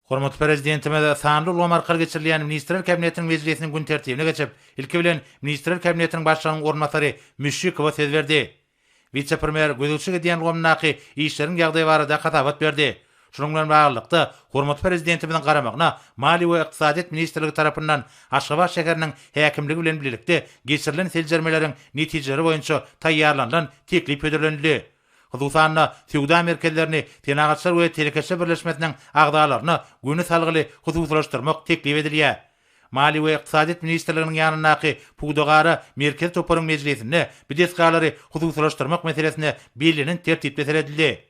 Hormatly Prezidentimiz sanly ulgam arkaly geçirilýän Ministrler Kabinetiniň mejlisiniň gün tertibine geçip, ilki bilen, Ministrler Kabinetiniň Başlygynyň orunbasary Müşşikowa söz berdi. Wise-premýer gözegçilik edýän ulgamyndaky işleriň ýagdaýy barada hasabat berdi. Şunuň bilen baglylykda, hormatly Prezidentimiziň garamagyna Maliýe we ykdysadyýet ministrligi tarapyndan Aşgabat şäheriniň häkimligi bilen birlikde geçirilen seljermeleriň netijeleri boýunça taýýarlanylan teklip hödürlenildi. Hususan-da, söwda merkezlerini Senagatçylar we telekeçiler birleşmesiniň agzalaryna göni salgyly hususylaşdyrmak teklip edilýär. Maliýe we ykdysadyýet ministrliginiň ýanyndaky pudagara merkezi toparyň mejlisinde bu desgalary hususylaşdyrmak meselesine bellenen tertipde seredildi.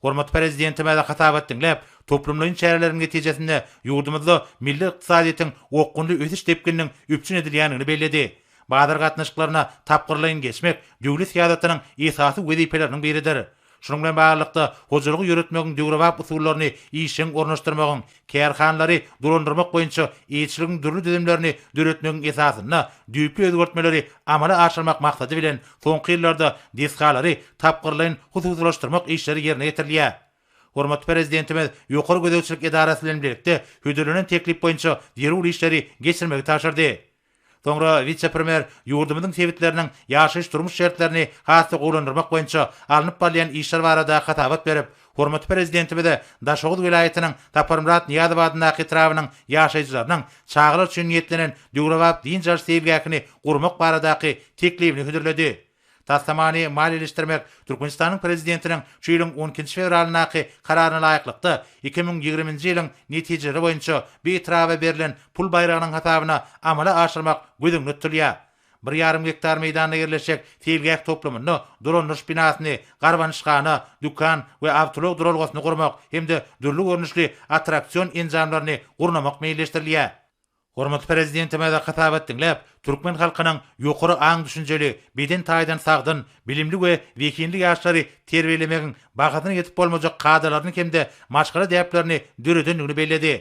Hormatly Prezidentimize hasabat diňläp, toplumlaýyn çäreleriň netijesinde ýurdumyzda milli ykdysadyýetiň okgunly ösüş depgininiň üpjün edilýändigini belledi. Bazar gatnaşyklaryna tapgyrlaýyn geçmek döwlet syýasatynyň esasy wezipeleriniň biridir. Şunuň bilen baglylykda, hojalygy ýöretmegiň döwrebap usullaryny işjeň ornaşdyrmagyň, kärhanalary dolandyrmak boýunça eýeçiligiň dürli düzümlerini döretmegiň esasynda düýpli özgertmeleri amala aşyrmak maksady bilen, soňky ýyllarda desgalary tapgyrlaýyn hususylaşdyrmak işleri ýerine ýetirilýär. Hormatly Prezidentimiz Ýokary gözegçilik edarasy bilen bilelikde hödürlenen teklip boýunça zerur işleri geçirmegi tabşyrdy. Soňra wise-premýer ýurdumyzyň sebitleriniň ýaşaýyş-durmuş şertlerini has-da gowulandyrmak boýunça alnyp barylýan işler barada hasabat berip, hormatly Prezidentimize Daşoguz welaýatynyň Saparmyrat Nyýazow adyndaky etrabynyň ýaşaýjylarynyň çagalar üçin niýetlenen döwrebap dynç alyş seýilgähini gurmak baradaky teklibini hödürledi. Taslamany maliýeleşdirmek Türkmenistanyň Prezidentiniň şu ýylyň on ikinji fewralyndaky Kararyna laýyklykda, iki müň ýigriminji ýylyň netijeleri boýunça bu etraba berlen pul baýragynyň hasabyna amala aşyrmak göz öňünde tutulýar. Bir ýarym gektar meýdanda ýerleşjek seýilgäh toplumynda dolandyryş binasyny, garbanyşhana, dükan we awtoulag duralgasyny gurmak hem-de dürli görnüşli attraksion enjamlaryny gurnamak meýilleşdirilýär. Hormatly Prezidentimize hasabat diňläp, türkmen halkynyň ýokary aň-düşünjeli, beden taýdan sagdyn, bilimli we zehinli ýaşlary terbiýelemegiň bahasyna ýetip bolmajak kadalaryny hem-de maşgala däplerini döredendigini belledi.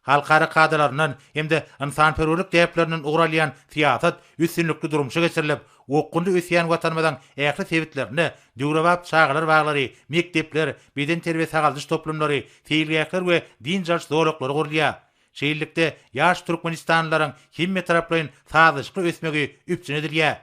Halkara kadalaryndan hem-de ynsanperwerlik däplerinden ugur alýan syýasat üstünlikli durmuşa geçirilip, okgunly ösýän Watanymyzyň ähli sebitlerinde döwrebap çagalar baglary, mekdepler, bedenterbiýe-sagaldyş toplumlary, seýilgähler we dynç alyş zolaklary gurulýar. Şeýlelikde, ýaş türkmenistanlylaryň hemmetaraplaýyn sazlaşykly ösmegi üpjün edilýär.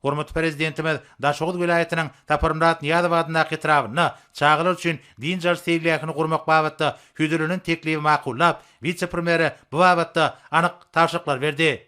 Hormatly Prezidentimiz Daşoguz welaýatynyň Saparmyrat Nyýazow adyndaky etrabynda çagalar üçin dynç alyş seýilgähini gurmak babatda hödürlenen teklibi makullap, wise-premýere bu babatda anyk tabşyryklar berdi.